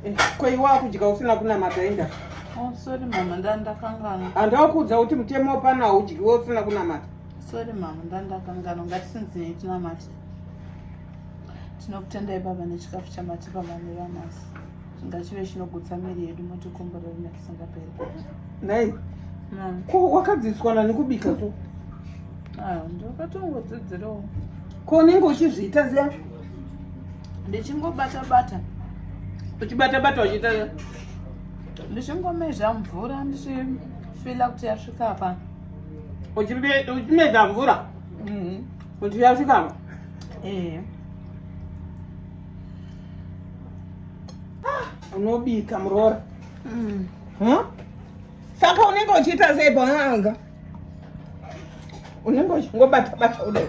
Eh, ko iwe wakudya usina kunamata enda oh, sorry mama ndandakangana handakuudza kuti mutemo wapana haudyiwe usina kunamata sorry mama ndandakangana ngatisinzinei tinamate tinokutendai baba nechikafu chamatipa mami vanasi chingachive chinogutsa miri yedu motikomborero nekisingaperi nhai ko wakadzidziswa nani kubika so ah, ndokatongodzidzirawo ko unenge uchizviita ziya ndichingobata bata uchibata bata uchiita ndichingomeza mvura ndichifila kuti yasvika apa uchimeza mvura mm-hmm. kuti yasvika apa ee ah, unobika muroora mm. saka unenge uchiita sei paanga unenge uchingobata bata udai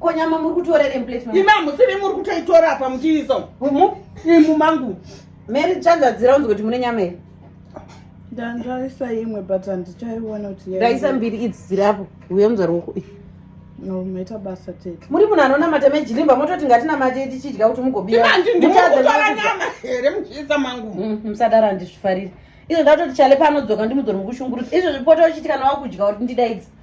Ko nyama muri kutora iri plate mama. Ima musiri muri kutoitora apa muchiisa. Umu imu mangu. Mary chanzadzira unzwe kuti mune nyama here? Ndandaisa imwe but handichaiona kuti yaiwa. Ndaisa mbiri idzi dziri apo. Uye muzwa ruoko. No, maita basa tete. Muri munhu anonamata mejilimba mototi ngatinamate tichidya kuti mugobiwa. Ima ndini ndimuri kutora nyama here muchiisa mangu. Mm, musadaro handizvifariri. Izvo ndatoti chale paanodzoka ndimudzori mukushungurudza. Izvo zvipoto uchitikana wakudya kuti ndidaidzi.